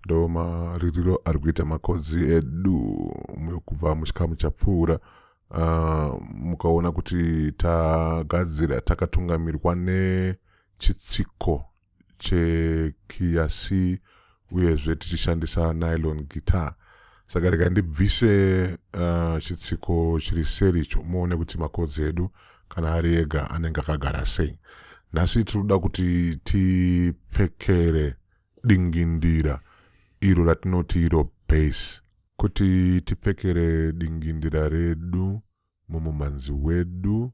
ndo maririro ari kuita makodzi edu kubva muchikamu chapfuura uh, mukaona kuti tagadzira takatungamirwa nechitsiko chekiya c uyezve tichishandisa nylon guitar saka rega ndibvise uh, chitsiko chiri seri icho muone kuti makodzi edu kana ari ega anenge akagara sei nhasi tiri kuda kuti tipfekere dingindira iro ratinoti iro base kuti tipfekere dingindira redu mumumhanzi wedu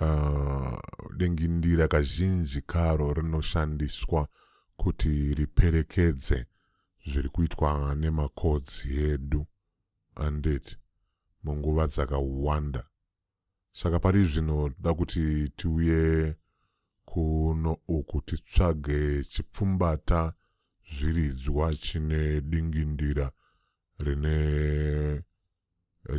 Uh, dingindira kazhinji karo rinoshandiswa kuti riperekedze zviri kuitwa nemakodzi edu andit munguva dzakawanda saka pari zvino da kuti tiuye kuno uku titsvage chipfumbata zviridzwa chine dingindira rine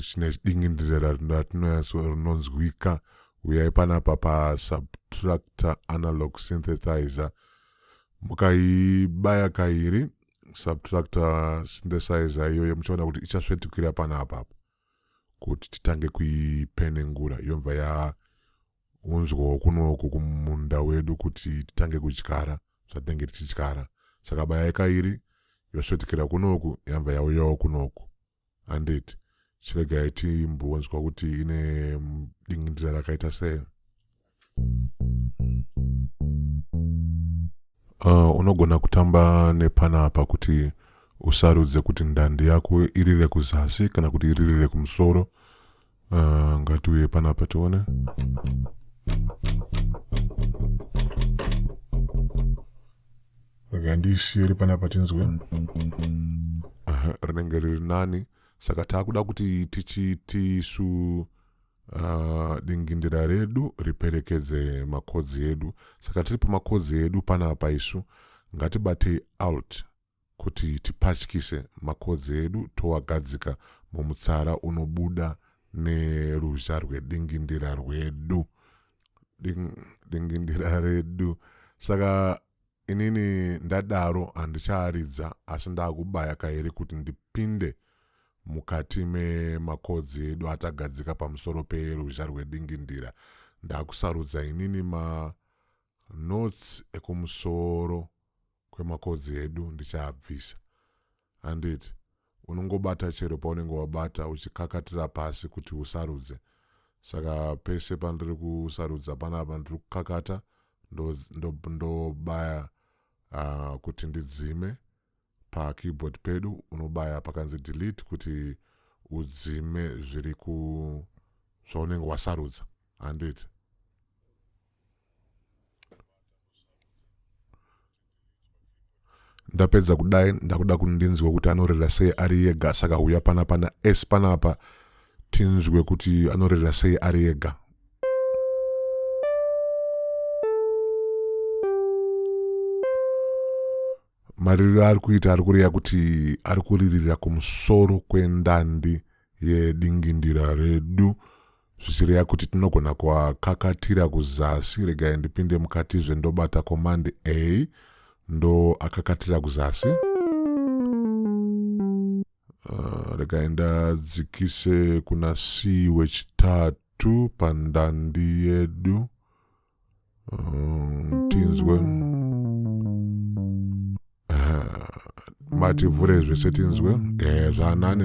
chine dingindire ratinonzwika uyai panapa pasubtractor analog synthesizer mukaibaya kairi subtractor synthesizer iyoyo muchaona kuti ichasvetukira panapa apo kuti titange kuipenengura yobva yaunzwawo kunoku kumunda wedu kuti titange kudyara zvatinenge tichidyara saka baya ikairi yosvetukira kunoku yabva yauyawo kunoku handiti chiregai timbonzwa kuti ine dingindira rakaita sei uh, unogona kutamba nepana apa kuti usarudze kuti ndandi yako irire kuzasi kana kuti irire kumusoro Uh, ngatiuye panapa tione rega ndiisiye ri panapa tinzwe uh, rinenge riri nani saka taakuda kuti tichiti isu uh, dingindira redu riperekedze makodzi edu saka tiri pamakodzi edu panapa isu ngatibatei alt kuti tipatyise makodzi edu toagadzika mumutsara unobuda neruzha rwedingindira rwedu Ding, dingindira redu saka inini ndadaro handichaaridza asi ndaakubaya kairi kuti ndipinde mukati memakodzi edu atagadzika pamusoro peruzha rwedingindira ndakusarudza inini manotes ekumusoro kwemakodzi edu ndichaabvisa. Handiti? Unongobata chero paunenge wabata uchikakatira pasi kuti usarudze. Saka pese pandiri kusarudza panapa ndiri kukakata ndobaya ndo, ndo uh, ah, kuti ndidzime pakeyboard pedu unobaya pakanzi delete kuti udzime zviri ku zvaunenge wasarudza handiti ndapedza kudai ndakuda kundinzwa kuti anorera sei ari yega saka huya pana pana s panapa tinzwe kuti anorera sei ari yega mariro aari kuita ari kureya kuti ari kuriririra kumusoro kwendandi yedingindira redu zvichireya kuti tinogona kuakakatira kuzasi regai ndipinde mukatizve ndobata command a ndo akakatira kuzasi uh, regai ndadzikise kuna c wechitatu pandandi yedu mm, tinzwe mativhure zvese tinzwe ehe zvanani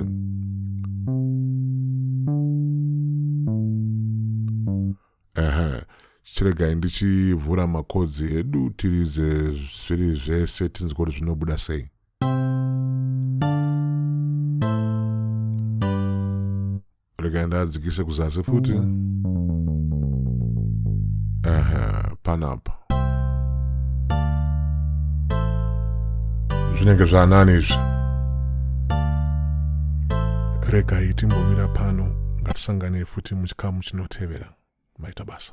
ehe chiregai ndichivhura makodzi edu tirize zviri zvese tinzwe kuti zvinobuda sei Rega ndadzikise kuzasi futi. Ehe, panapa. Zvinenge zvanani izvi. Regai timbomira pano ngatisangane futi muchikamu chinotevera. Maita basa.